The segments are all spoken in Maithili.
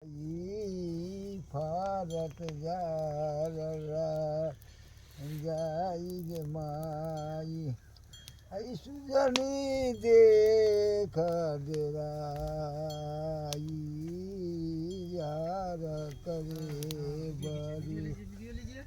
ई फरत जाररा जाई गे माई ऐ सुजनी देख देरा ई यार करे बरी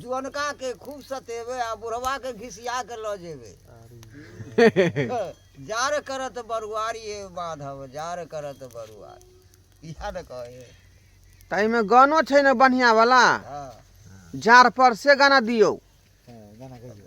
जुअनका के खूब सतेबे आ बुढ़वा के घिसिया के लऽ जेबे जार करत बरुआरी ए माधव जार करत बरुआरी इहा न कहे ताई में गानो छै ने बढ़िया वाला हाँ जार पर से गाना दियो गाना कहियो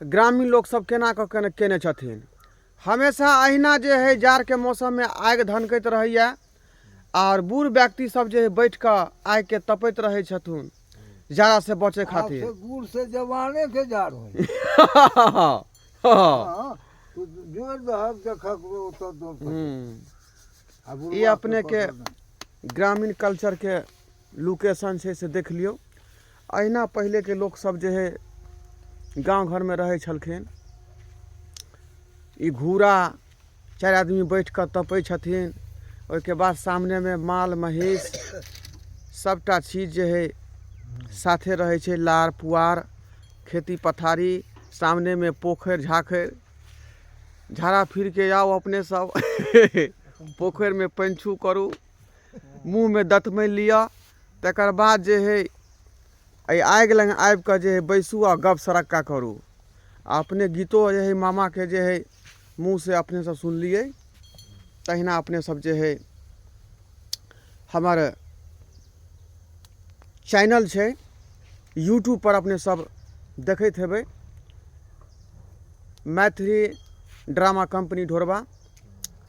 ग्रामीण लोक सब केना कऽ केना कयने छथिन हमेशा अहिना जे हइ जाड़के मौसममे आगि धनकैत रहैये आओर बुढ़ व्यक्ति सब जे बैठ कऽ आगिके तपैत रहै छथुन जाड़ासँ बचै खातिर से गुड़ से जवाने के जाड़ होई हाँ, तो जोड़ दहक के खकरो तो दो हम्म, आ बुढ़वा ई अपने के पकड़ में। ग्रामीण कल्चरके लोकेशन छै से देख लियौ अहिना पहिलेके लोकसभ जे है गाँव घरमे रहै छलखिन ई घूरा चारि आदमी बैठ कऽ तपै छथिन ओहिके बाद सामनेमे माल महीस सभटा चीज जे है साथे रहै छै लार पुआर खेती पथारी सामनेमे पोखरि झाखरि झाड़ा फिर कऽ आउ अपने सभ पोखरिमे पानि छू करू मुँहमे दतमनि लिअ तकर बाद जे हइ एहि आगि लग आबि कऽ जे हइ बैसू आ गप सरक्का करू आ अपने गीतो जे हइ मामाके जे हइ मुँहसँ अपनेसभ सुनलियै तहिना अपनेसभ जे हइ हमर चैनल छै यूट्यूबपर अपनेसभ देखैत हेबै मैथिली ड्रामा कंपनी ढोरबा